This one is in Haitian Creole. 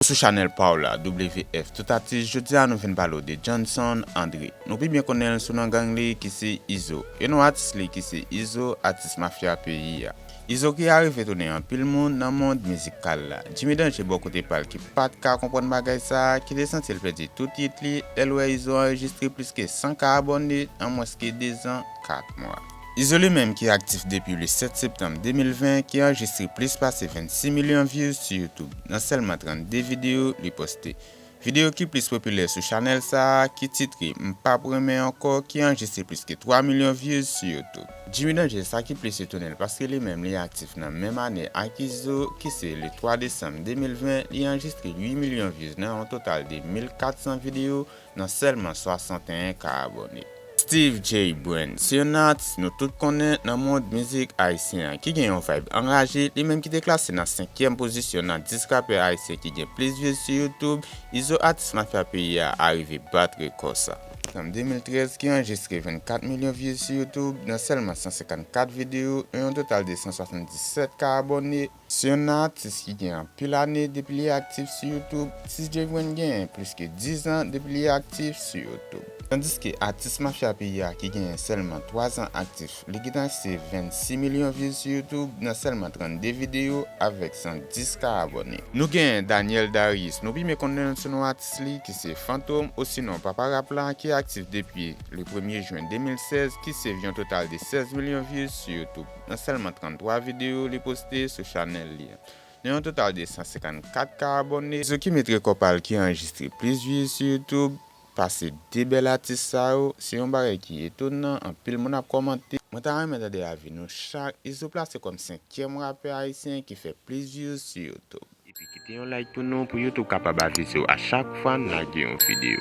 Sou chanèl pa w la WF tout atis jodi a nou vin pale w de Johnson André nou pi byen konnen l sou non gang li ki se Izo e non atis li ki se Izo atis mafya peyi a Izo ki arive tounen anpil moun nan mond mizikal la Jimmy Danger bò kote pa l ki pat ka konprann bagay sa ki te santi l pèdi tout yit li lè l wè Izo anrejistre plis ke 100 ka abòne an mwens ke 2 zan 4 mwa. Izo li menm ki aktif depi le 7 septanm 2020 ki anrejistre plis pase 26 milyon views sou YouTube nan sèlman 32 videyo li poste. Videyo ki plis popilè sou chanèl sa a ki titre M pap renmen ankò ki anrejistre plis ke 3 milyon views sou YouTube. Jimmy Danger sa ki plis etone l paske li menm li aktif nan menm ane ak Izo ki se le 3 desanm 2020 li anrejistre 8 milyon views nan yon total de 1400 videyo nan sèlman 61 ka abòne. Steeve Jay Brand se yon atis nou tout konnen nan mond mizik ayisyen an ki gen yon vibe anraje, li menm ki te klase nan senkyèm pozisyon nan 10 rapè ayisyen ki gen plis views sou YouTube, Izo atis mafya peyi a arive bat rekò sa. Fanm 2013 ki anrejistre 24 milyon views sou YouTube nan sèlman 154 videyo e yon total de 177 ka abòne, Se yon nan atis ki gen anpil ane depi li aktif sou YouTube. Ti Jvrin genyen plis ke 10 zan depi li aktif sou YouTube. Tandiske atis mafya peyi a ki genyen sèlman 3 zan aktif li gentan achte 26 milyon views sou YouTube nan sèlman 32 videyo avèk 110 ka abòne. Nou genyen Daniel Darius nou pi men konnen l sou non atis li ki se Fantom osinon Papa Rap la ki aktif depi le premye jwen 2016 ki se vyon total de 16 milyon views sou YouTube. nan sèlman 33 videyo li poste sou chanèl li an. Nan yon total de 154 ka abòne, Zouki met rekò pa l ki anrejistre plis vye sou YouTube pase 2 bèl atis sa yo, se yon bagay ki etonan, anpil moun ap kòmante. Mwen ta renmen tande avi nou chak, Izo plase kòm 5 tyèm rapè ayisyen ki fè plis vye sou YouTube. Epi kite yon like pou nou pou YouTube kapab avisew a chak fwa nou lage yon video.